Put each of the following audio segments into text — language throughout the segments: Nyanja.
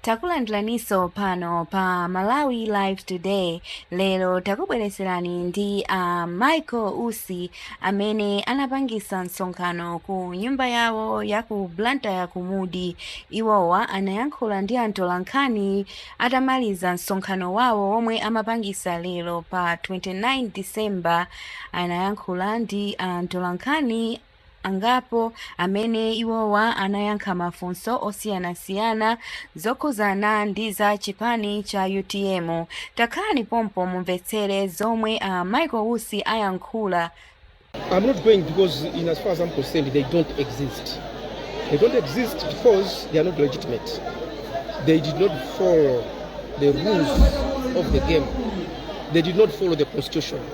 takulandiraninso pano pa malawi live today lero takubweretserani ndi a uh, michael usi amene anapangisa msonkhano ku nyumba yawo ya ku blantyre ya ku mudi iwowa anayankhula ndi atolankhani atamaliza msonkhano wawo womwe amapangisa lero pa 29 december anayankhula ndi atolankhani angapo amene iwowa anayankha mafunso osiyanasiyana zokhuzana ndi za chipani cha utm takhalani pompo mumvetsere zomwe a michael usi ayankhula I'm not going because, in as far as I'm concerned, they don't exist. They don't exist because they are not legitimate. They did not follow the rules of the game. They did not follow the constitution.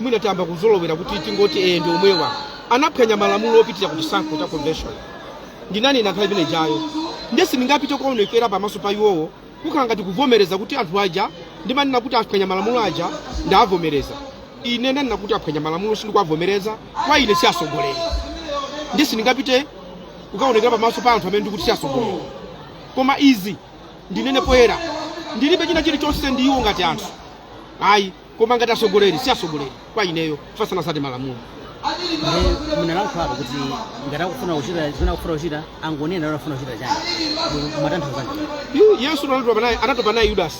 mwina tayamba kuzolowera kuti tingoti ee ndi omwewa anaphwanya malamulo opitira ku chisankho cha convention ndinanena kale imene ijayo nde sindingapite kuonekera pamaso pa iwowo kukhala ngati kuvomereza kuti anthu aja ndimanena kuti aphwanya malamulo aja ndavomereza ine ndanena kuti aphwanya malamulo sindikuwavomereza kwa ine si atsogoleri nde sindingapite kukaonekera pamaso pa anthu amene ndikuti si atsogoleri koma izi ndinene poyera ndilibe china chilichonse ndi iwo ngati anthu ayi koma ngati atsogoleri si atsogoleri kwa ineyo chifukwa sanatsate malamulo Ndi munalankhula apo kuti ngati akufuna kuchita zina akufuna kuchita angonena kuti akufuna kuchita chani mumatanthauza Yu- yesu anatopa naye anatopa naye yudasi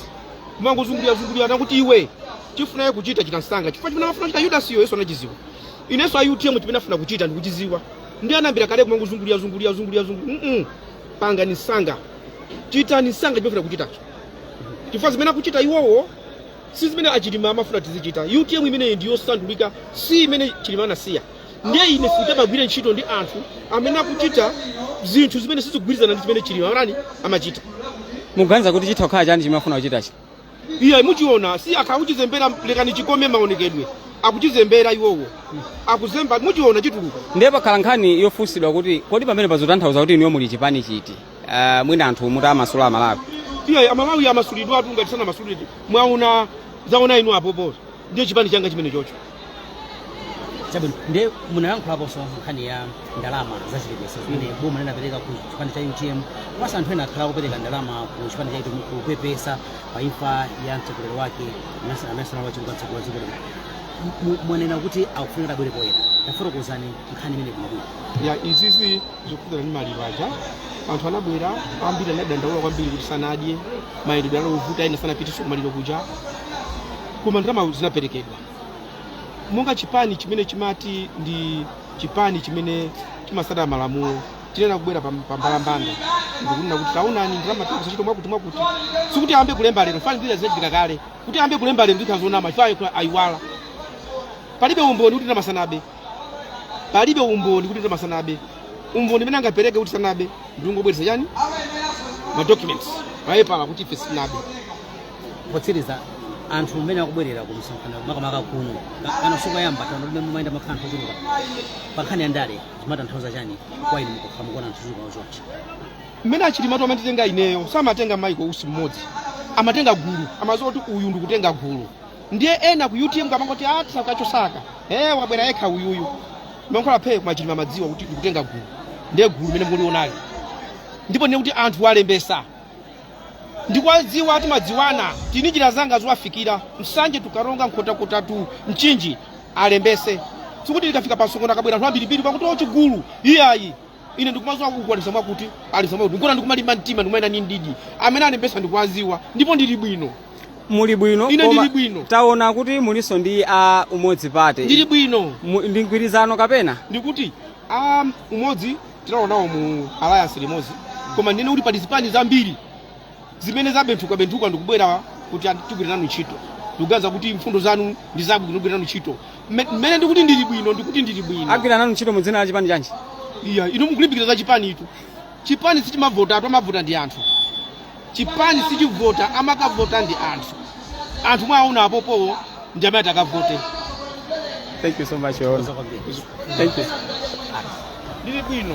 kumangozungulira zungulira anakuti iwe chofuna kuchita chita msanga chifukwa chimene amafuna kuchita yudasiyo yesu anachidziwa inenso a utm chimene afuna kuchita ndikuchidziwa nde anayambira kale kumangozungulira zungulira zungulira zungulira mm pangani msanga chitani msanga chimene afuna kuchitacho chifukwa zimene akuchita iwowo si zimene achilima amafuna tizichita utm imeneyi ndi yosandulika si imene chilima anasiya ndiye ine sindingagwire ntchito ndi anthu amene akuchita zinthu zimene sizikugwirizana ndi zimene chilima anani amachita muganiza kuti chitha kukhala chani chimene afuna kuchitachi iya muchiona si akhala akuchizembera lekani chikome maonekedwe akuchizembera iwowo akuzemba muchiona chituluka ndiye pakhala nkhani yofunsidwa kuti kodi pamenepa zotanthauza kuti inuyo muli chipani chiti uh, mwina anthu mutawamasula amalawi iya amalawi amasulidwatu ngati sanamasulidwe mwaona zaona inu apopo ndiye chipani changa chimene chocho chabwino ndiye munalankhulaponso nkhani ya ndalama zachipepeso zimene boma linapereka ku chipani cha utm komanso anthu ena akhala akupereka ndalama ku chipani cha utm kupepesa pa imfa ya mtsogoleri wake amenenso anali wachiwiri kwa mtsogoleri wa dziko lino M- mu- mwanena kuti akufunika abwere poyera tafotokozani nkhani imeneyi bwinobwino ya izizi zokhudzana ndi maliro aja anthu anabwera ambiri anadandaula kwambiri kuti sanadye mayendedwe anali ovuta ena sanapitenso kumaliro kuja koma ndalama zinaperekedwa monga chipani chimene chimati ndi chipani chimene chimatsata malamulo tinayenera kubwera pam- pambalambanda ndikunena kuti taonani ndalama tikuzichita mwakuti mwakuti sikuti ayambe kulemba lero chifukwa zina zinachitika kale kuti ayambe kulemba lero zikhala zonama chifukwa ayiwala palibe umboni kuti ndalama sanabe palibe umboni kuti ndalama sanabe umboni umene angapereke kuti sanabe ndi kungobweretsa chani ma documents mapepala kuti ife sitinabe potsiriza anthu mmene akubwerera ku msonkhano makamaka kuno pa- pano sikoyamba tano limene mumayenda mumakhala anthu ochuluka pa nkhani ya ndale zimatanthauza chani kwa inu mukakhala mukuona anthu ochuluka ochonchi mmene a Chilimatu amatitenga ineyo samatenga Michael Usi mmodzi amatenga gulu amadziwa kuti uyu ndikutenga gulu ndiye ena ku utm amangoti a tisauka chosaka eh wabwera yekha uyuyu mankhwala phe koma Chilima amadziwa kuti ndikutenga gulu ndiye gulu limene mulionelo ndipo ndinene kuti anthu alembetsa ndikwadziwa a timadziwana ndili ndi njira zanga zowafikira Nsanje to Karonga Nkhotakota to Mchinji alembetse sikuti ndikafika pa msonkhano akabwera anthu ambirimbiri basi kuti o chigulu iyayi ine ndikumadziwa kuku alembetsa mwakuti alembetsa mwakuti n'kona ndikumalimba mtima ndikumayenda ndi mdidi amene alembetsa ndikuwadziwa ndipo ndili bwino muli bwino Ine koma ndili bwino. taona kuti mulinso ndi a Umodzi Party ndili bwino Mu- ndi mgwirizano kapena ndikuti a umodzi tinalowa nawo mu alliance limodzi koma ndinene kuti pali zipani zambiri zimene zabenthukabenthuka ndikubwera kuti ati tigwire nanu ntchito ndikuganiza kuti mfundo zanu ndi zabwino tigwire nanu ntchito Mme- mmene ndikuti ndili bwino ndikuti ndili bwino agwira nanu ntchito mu dzina la chipani chanji iyayi inu mukulimbikira za chipani eti chipani sichimavota atu amavota ndi anthu chipani sichivota amakavota ndi anthu anthu mwawaona apopowo ndi amene atakavote thank you so much your honor thank you ndili bwino